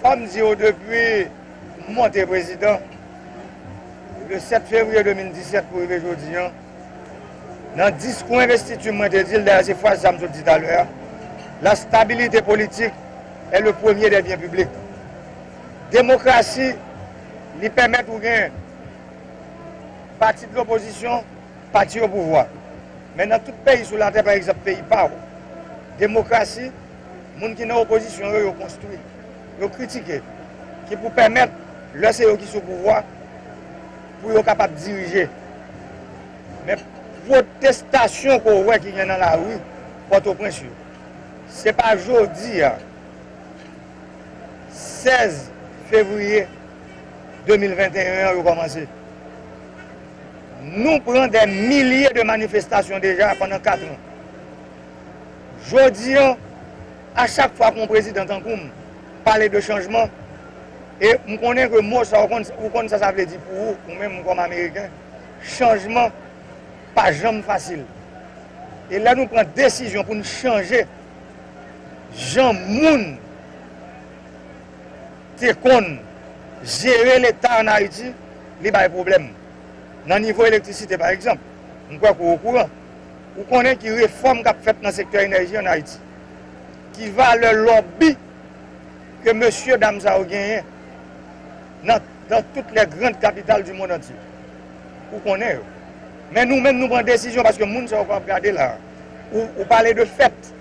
Fòm di ou depi m monte prezidan le 7 fevriye 2017 pou rive jodi an nan diskou envestiti m mwen te di l dayè se fraz sa m sot di talè a la stabilite politik è le premye dè byen piblik demokrasi li pèmèt ou gen pati de lopozisyon Pati opouvwa. Men nan tout peyi sou latè pa egzanp peyi pa w. Demokrasi, moun ki nan opozisyon yo, yo konstwi. Yo kritike. Ki pou pèmèt, lè se yo ki sou pouvwa, pou yo kapab dirije. Men pwotestasyon ke w wè ki gen nan lari Pòtoprens yo, se pa jodi a 16 fevriye 2021 an yo kòmanse. Nou pran dè milye de manifestasyon deja pandan 4 an. Jodi an, a chak fwa ke yon prezidan tankou m pale de chanjman, e m konnen ke mo sa, ou konn sa sa vle di pou ou, ou menm kòm Ameriken, chanjman pa janm fasil. E lè nou pran desizyon pou n chanje jan moun te konn jere leta an Ayiti, li bay pwoblèm. Nan nivo elektrisite pa egzanp, m kwè ke w okouran, ou konnen ki refòm k ap fèt nan sektè enèji an Ayiti, ki valè lòbi ke mesye dam sa yo genyen nan dans toutes les grandes capitales du monde entier. Ou konnen yo. Men nou menm nou pran desizyon paske moun sa yo pa ap gade la a. Ou pale de fèt.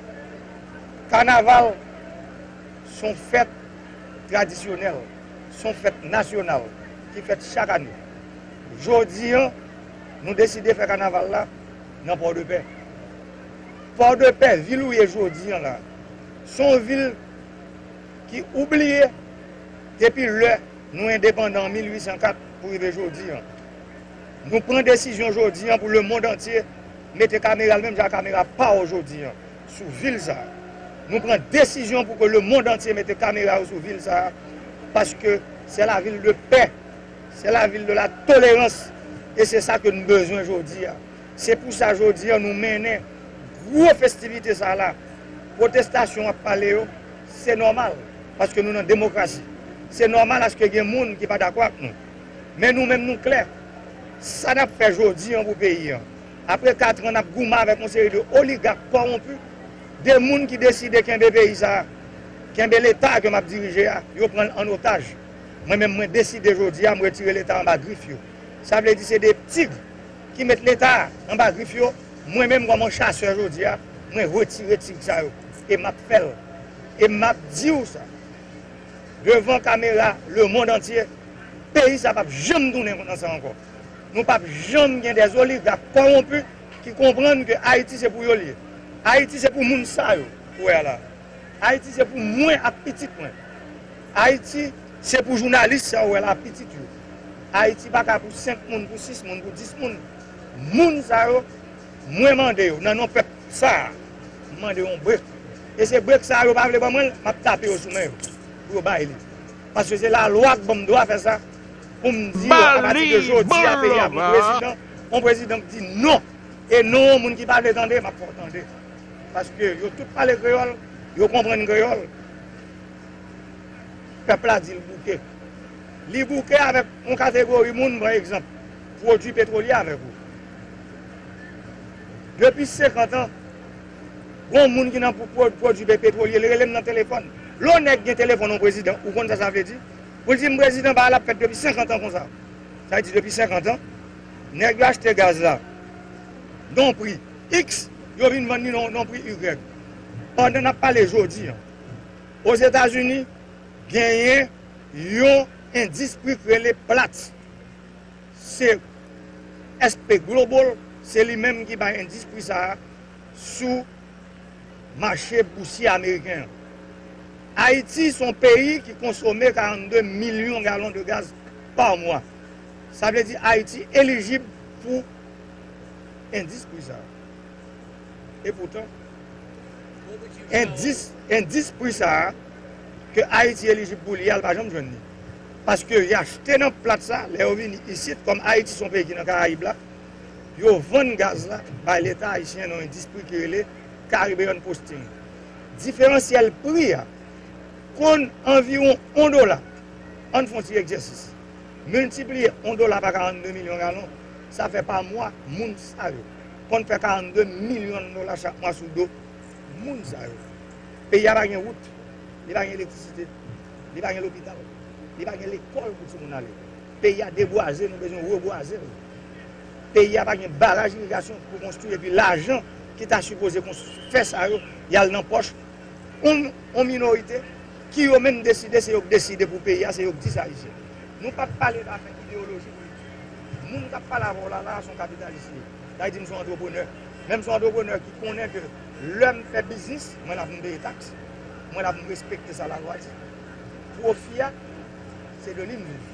Kanaval s on fèt tradisyonèl. s on fèt nasyonal ki fèt chak ane. Jodi an, nou deside fè kanaval la nan Pòdepè. Pòdepè, vil ou ye jodi an la, s on vil ki oubliye depi lè nou endepandan an 1804 pou rive jodi an. Nou pran desizyon jodi an pou lemond antye mete kamera l menm jan ak kamera pa w jodi an. sou vil sa a. Nou pran desizyon pou ke lemond antye mete kamera yo sou vil sa a, paske se la vil de pè, se la vil de la tolerans, e se sa ke nou bezwen jodi a. Se pou sa jodi a nou mennen gwo festivite sa a la. Pwotestasyon wap pale yo, se nòmal, paske nou nan demokrasi. Se nòmal aske gen moun ki pa dakò ak nou. Men nou menm nou klè, sa nap fè jodi an pou peyi an. Apre 4 ans nap goumen avek yon seri de oligak kowonpu, de moun ki deside kenbe peyi sa a, kenbe leta ke map dirije a, yo pran l an otaj. Mwen menm mwen deside jodi a m retire leta anba grif yo. Sa vle di se 2 tig ki met leta a anba grif yo, mwen menm kòm yon chasè jodi a mwen retire tig sa yo e map fè l e map di w sa devan kamera le mond antye, peyi sa pap janm tounen nan sa ankò. Nou pap janm gen des oligarques corrompus ki konprann ke Ayiti se pou yo li ye. Ayiti se pou moun sa yo ou wè a la. Ayiti se pou mwen ak pitit mwen. Ayiti se pou jounalis sa ou wè la pitit yo. Ayiti pa ka pou 5 moun, pou 6 moun, pou 10 moun. Moun sa yo, mwen mande yo nan non pèp sa a, m mande yon break. E se break sa a yo pa vle ban mwen l, m ap tape yo sou men yo pou yo bay li. Paske se lalwa k ban m dwa fè sa. Pou m di yo apati de jodi a peyi a pran prezidan, yon prezidan k di non, e non an moun ki pa vle tande m ap fè w tande. Paske yo tout pale kreyòl, yo konprann kreyòl. Pèp la di l bouke. Li bouke avèk yon kategori moun, pa egzanp, pwodui petwolye avèk ou. Depi 50 an, gon moun ki nan pwodui petwolye, li rele m nan telefòn. Lè yon nèg gen telefòn yon prezidan, ou konn sa sa vle di? Pou l di m prezidan bagay la ap fèt depi 50 an konsa. Sa vle di depi 50 an nèg yo achte gaz la non pri X yo vin vann li non pri Y. Pandan n ap pale jodi an Ozetazini genyen yon endis pri k rele Platts se SP Global se li menm ki bay endis pri sa a sou. mache bousye ameriken an. Ayiti se yon peyi ki konsome 42 milyon galon de gaz pa mwa. Sa vle di Ayiti elijib pou endis pri sa a. E poutan, endis, endis pri sa a ke Ayiti elijib pou li a, l pa janm jwenn li. Paske y achte nan plat sa, lè yo vini isit, kòm Ayiti se yon peyi ki nan Karayib la, yo vann gaz la bay leta ayisyen nan endispri ki rele Caribbean Posting. Diferansyèl pri a konn anviwon on dola. An n fon ti egzèsis. Miltipliye on dola pa 42 milyon galon, sa fè pa mwa moun sa yo konn fè 42 milyon dola chak mwa sou do moun sa yo. Peyi a pa gen wout, li pa gen elektrisite, li pa gen lopital, li pa gen lekòl pou timoun ale. Peyi a debwaze, nou bezwen rebwaze l. Peyi a pa gen baraj irigasyon pou konstwi epi lajan ki ta sipoze fè sa yo, y al nan pòch yon minorite ki yo menm deside se yo k deside pou peyi a, se yo k di sa li se. Nou pa p pale dafè ideyoloji politik. Moun k ap pale avè w la la a se yon kapitalis li ye. Sa vle di m se yon antreprenè. Men m se yon antreprenè ki konnen ke lè m fè biznis, mwen la pou m peye taks, mwen la pou m respekte sa lalwa di. Pwofi a, se de li m viv.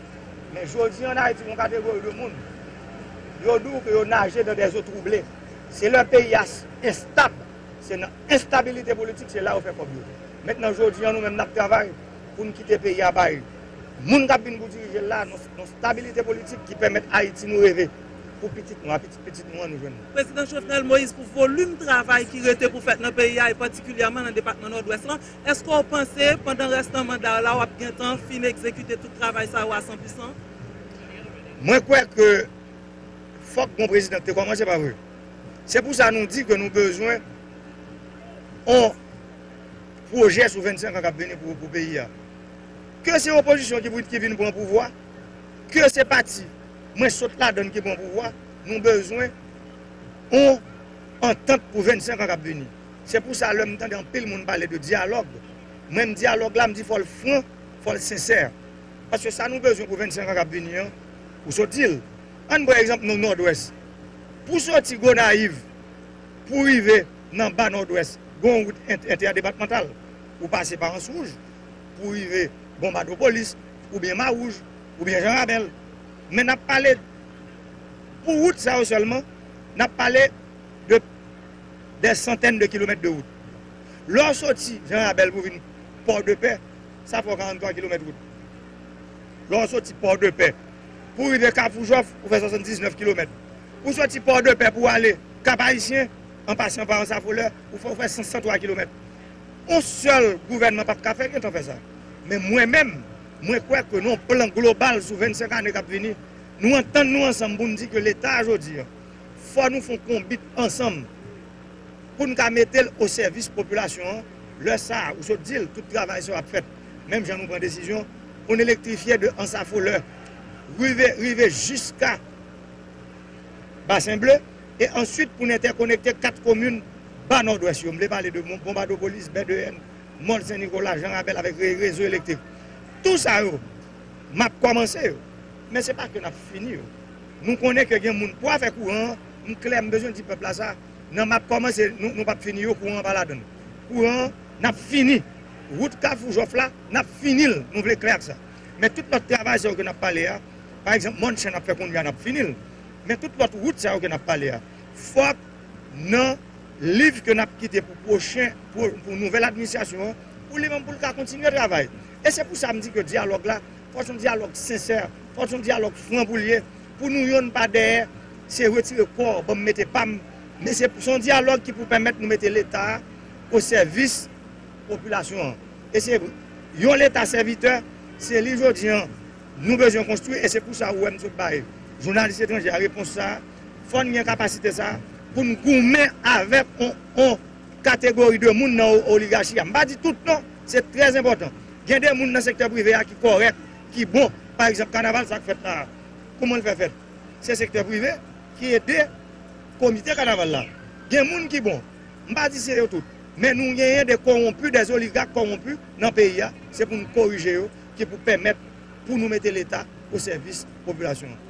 Men jodi an Ayiti gen yon kategori de moun, yo di w ke yo naje dan dè zo twouble. Se lè peyi a enstab, se nan enstabilite politik se la yo fè kòb yo. Mentnan jodi an nou menm n ap travay pou n kite peyi a bay moun k ap vin pou dirije l la, yon stabilite politik ki pèmèt Ayiti nou reve pou pitit nou a pitit pitit nou an nou jwenn. Prezidan Jovenel Moïse pou volim travay ki rete pou fèt nan peyi a e patikilyèman nan depatman Nòdwès lan, Eske w panse pandan rès nan manda w la w ap gentan fin egzekite tout travay sa yo a san pousan? Mwen kwè ke fòk bon prezidan te kòmanse pa vre. Se pou sa nou di ke nou bezwen yon pwojè sou 25 an k ap vini pou peyi a. Ke se opozisyon ki pou ki vin pran pouvwa, ke se pati mwen sot ladann ki pran pouvwa, nou bezwen yon antant pou 25 an k ap vini. Se pou sa lè m tande anpil moun pale de dyalòg, mwen m dyalòg la m di fò l fran, fò l sensè. Paske sa nou bezwen pou 25 an k ap vini an, ou sot di l. An n pran egzanp nan Nòdwès. Pou soti Gonayiv pou rive nan ba Nòdwès, gen yon wout entèdepatmantal. Ou pase pa Answouj pou rive Bon Bato-Polis oubyen Mawouj oubyen Jan Rabèl. Men n ap pale pou wout sa yo sèlman, n ap pale de. dè santèn de kilomèt de wout. Lè w soti Jan Rabèl pou vin Pòdepè, sa fè w 43 kilomèt wout. Lè w soti Pòdepè pou rive Kafou Jòf, ou fè 79 kilomèt. Ou soti Pòdepè pou w ale Kap Ayisyen, an pasan pa Ansafolè, ou fè ou fè 103 kilomèt. On sèl gouvènman pap ka fè gen tan fè sa. Men mwen menm, mwen kwè ke nan yon plan global sou 25 ane kap vini, nou antann nou ansanm pou n di ke Leta jodi an, fò nou fon konbit ansanm poun ka metel o sèvis popilasyon an lè sa ou sot dil tout travay sa yo ap fèt menm jan nou pran desizyon poun elektrifye de ansafolè rive rive jiska basen ble e answit poun entèkonekte 4 komin ba nòdwès yo mvle pale de bonbadopolis bèdeyèn mòl sen nikola jan rabèl avèk re rezo elektrik tou sa yo map kòmanse yo men se pa ke nap fini yo. Nou konnen ke gen moun pou afè kouran an, m klè m bezwen di pèp la sa, nan map kòmanse nou pap fini yo kouran an pa ladann. Kouran an nap fini, wout kafou jòf la nap fini l nou vle klè ak sa. Men tout lòt travay sa yo ke nap pale a, pa egzanp mòn chen nap fè kounye a nap fini l, men tout lòt wout sa yo ke nap pale a fòk nan liv ke nap kite pou pwochen pou nouvèl administrasyon an pou li menm pou l ka kontinye travay. E se pou sa m di ke dyalòg la Fòs yon dyalòg sensè, fòs yon dyalòg fran pou l ye, pou nou yonn pa dèyè, se retire kò w, ban m mete pa m, men se yon dyalòg ki pou pèmèt nou mete Leta a o sèvis popilasyon an. E se yon Leta sèvitè, se li jodi an nou bezwen konstwi e se pou sa ou wè m sot bay jounalis etranje a repons sa a, fò n gen kapasite sa a pou n goumen avèk yon. kategori de moun nan oligachi a. M pa di tout non, se trè enpòtan. Gen de moun nan sektè prive a ki kòrèk, ki bon. Pa egzanp, kanaval sa k fèt la a, kouman l fè fèt? Se sektè prive ki ede komite kanaval la. Gen moun ki bon. M pa di se yo tout. Men nou genyen de kowonpi, de oligak kowonpi nan peyi a. Se pou nou korije yo ki pou pèmèt pou nou mete Leta o sèvis popilasyon an.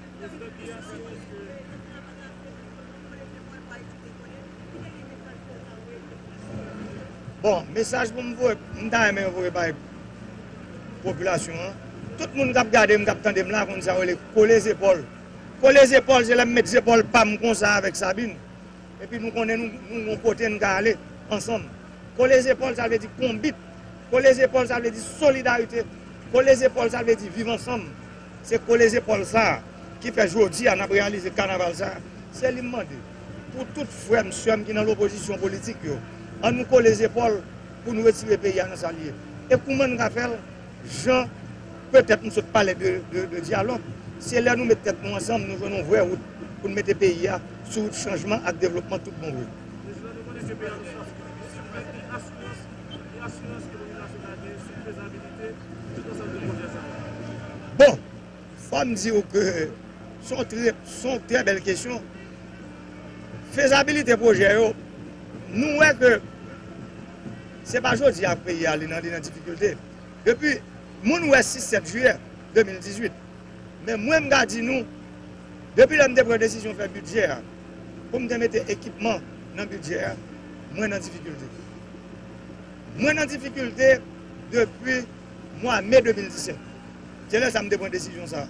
Bon, mesaj pou m voye, m ta renmen voye bay popilasyon an, tout moun kap gade m, kap tande m la konn sa yo rele kole zepòl. Kole zepòl se lè m met zepòl pa m konsa avèk Sabin, epi nou konnen nou gon kote n ka ale ansanm. Kole zepòl sa vle di konbit, kole zepòl sa vle di solidarite, kole zepòl sa vle di viv ansanm, Se kole zepòl sa a ki fè jodi a n ap reyalize kanaval sa a. Se li m mande pou tout frè m, sè m ki nan lopozisyon politik yo. An nou kole zepòl pou n retire peyi a nan sa l ye. E kouman n ka fè l? Jan petèt m sot pale de dyalòg. Se lè nou met tèt nou ansanm nou jwenn yon vrè wout pou n mete peyi a sou wout chanjman ak devlopman tout bon vre. Fòs e asirans ke Domini Nasyonal genyen sou fezabilite tout ansanm de pwojè sa yo. Bon! Fò m di ou ke son trè, son trè bèl kesyon. Fezabilite pwojè yo, nou wè ke se pa jodi a peyi a li nan, li nan difikilte. Depi moun wè 6, 7 jiyè 2018. Men mwen m ka di nou, depi lè m te pran desizyon fè bidjè a, poum te mete ekipman nan bidjè a mwen nan difikilte mwen nan difikilte depi mwa me 2017 se lè sa m te pran desizyon sa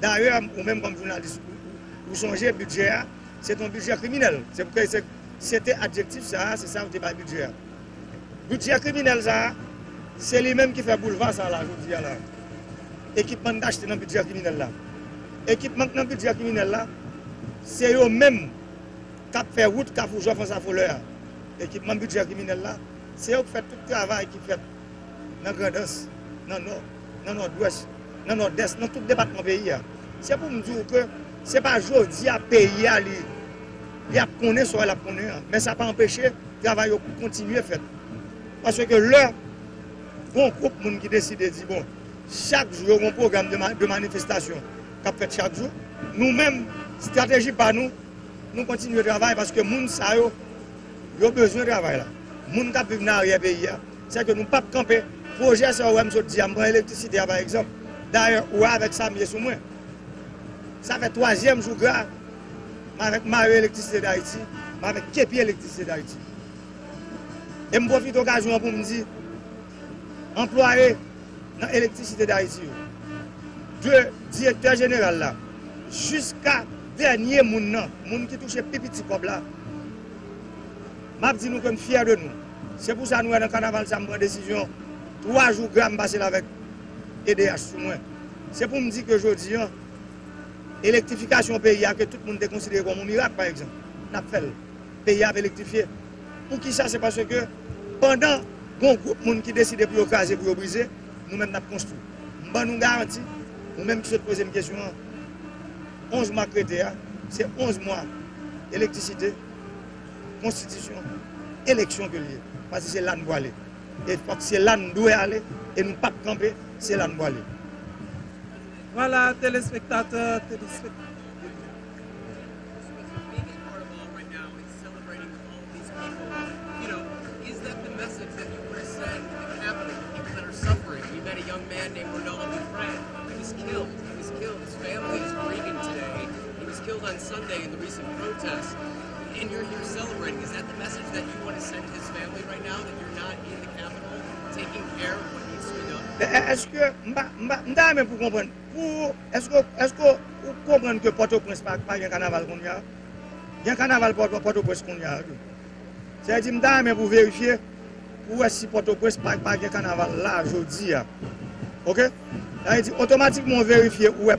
dayè ou menm kòm jounalis ou sonje bidjè a se te yon bidjè kriminèl se te adjektif sa se sa yo te bay bidjè a bidjè kriminèl sa se li menm ki fè boulva sa la jodi a la. Ekipman n achte nan bidjè kriminèl la. Ekipman k nan bidjè kriminèl la, se yo menm k ap fè wout Kafou Jòf Ansafolè a. Ekipman bidjè kriminèl la, se yo k fè tout travay ki fèt nan Grandans, nan Nò, nan Nòdwès, nan Nòdès, nan tout depatman peyi a. Se pou m di w ke se pa jodi a peyi a li ap konnen sa l ap konnen an. Men sa pa anpeche travay yo kontinye fèt. Paske lè gon gwoup moun ki deside di bon Chak jou yo gen yon pwogram de manifestasyon k ap fèt chak jou. Nou menm, estrateji pa nou, nou kontinye travay paske moun sa yo, yo bezwen travay la. Moun k ap viv nan aryè peyi a. Sèke nou p ap kanpe. Pwojè sa ou wè m sot di a, m pran elektrisite a pa egzanp. Dayè, ou wè avèk sa m ye sou mwen. Sa fè twazyèm jou gra m avèk Mayo Elektrisite Dayiti, m avèk Kepi Elektrisite Dayiti. E m pwofite okazyon an pou m di. anplwaye nan Elektrisite Dayiti yo, de direktè jeneral la jiska dènye moun nan, moun ki touche pi piti kòb la, m ap di nou ke m fyè de nou. Se pou sa nou wè nan kanaval sa m pran desizyon 3 jou gra m pase l avèk edh sou mwen. Se pou m di ke jodi an, elektrifikasyon peyi a ke tout moun te konsidere kòm yon mirak pa egzanp, n ap fè l. Peyi a ap elektrifye. Pou ki sa? Se paske pandan gon gwoup moun ki deside pou yo kraze, pou yo brize, nou menm n ap konstwi. M ban nou garanti, ou menm ki sot poze m kesyon an, 11 mwa k rete a, se 11 mwa elektrisite, konstitisyon, eleksyon ke li ye. Paske se la n pwale. E se la n dwe ale e nou pap kanpe, se la n pwale. Vwala telespektatè, telespektatriz. Eske m pa, m pa, m ta renmen pou w konprann, pou, eske w, eske w konprann ke Pòtoprens pa, pa gen kanaval kounya? Gen kanaval Pòtoprens kounya a tou. Sa vle di m ta renmen pou verifye pou wè si Pòtoprens pa pa gen kanaval la jodi a. Ok? Sa vle di otomatikman ou verifye ou wè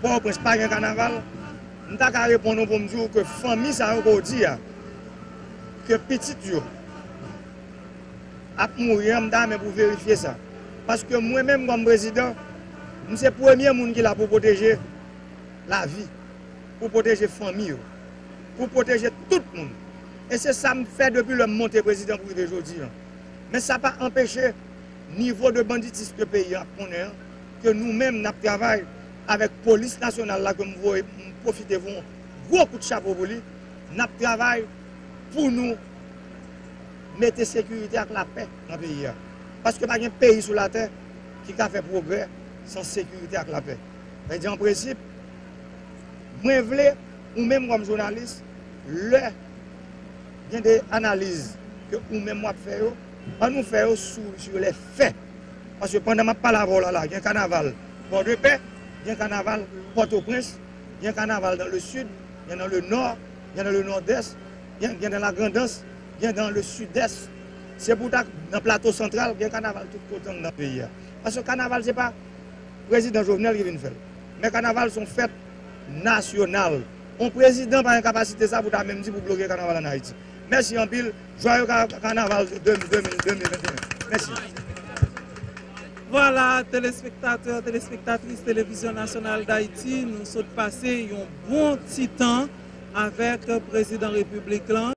Pòtoprens pa gen kanaval. M ta ka reponn ou pou m di ou ke fanmi sa yo ke w di a, ke pitit yo ap mouri an, m ta renmen pou w verifye sa. Paske mwen menm kòm prezidan, m se premye moun ki la pou pwoteje lavi. Pou pwoteje fanmi yo. Pou pwoteje tout moun. E se sa m fè depi lè m monte prezidan pou rive jodi an. Men sa pa anpeche nivo de banditism ke peyi an ap konnen an, ke nou menm n ap travay avèk polis nasyonal la ke m voye m pwofite voye yon gwo kout chapo pou li, n ap travay pou nou mete sekirite ak lapè nan peyi a. Paske pa gen peyi sou latè ki ka fè pwogrè san sekirite ak lapè. Sa vle di an prensip. Mwen vle ou menm kòm jounalis lè gen de analiz ke ou menm wap fè yo, an nou fè yo sou lè fè. Paske pandan map pale avèw la la gen kanaval pò de pè, gen kanaval pòtoprens, gen kanaval dan le sid, gen dan le nò, gen dan le nòdès, gen dan la grandans, gen dan le sidès. Se pou ta nan plato santral gen kanaval tout kote nan peyi a. Paske kanaval se pa. Prezidan Jovenel ki vin fèl. Men kanaval son fèt nasyonal. On prezidan pa gen kapasite sa pou ta menm di pou bloke kanaval an Ayiti. Mèsi anpil. Jwaye kanaval 2021. Mèsi. Vwala telespektatè, telespektatris Televizyon Nasyonal Dayiti, nou sot pase yon bon ti tan avèk Prezidan Repiblik lan.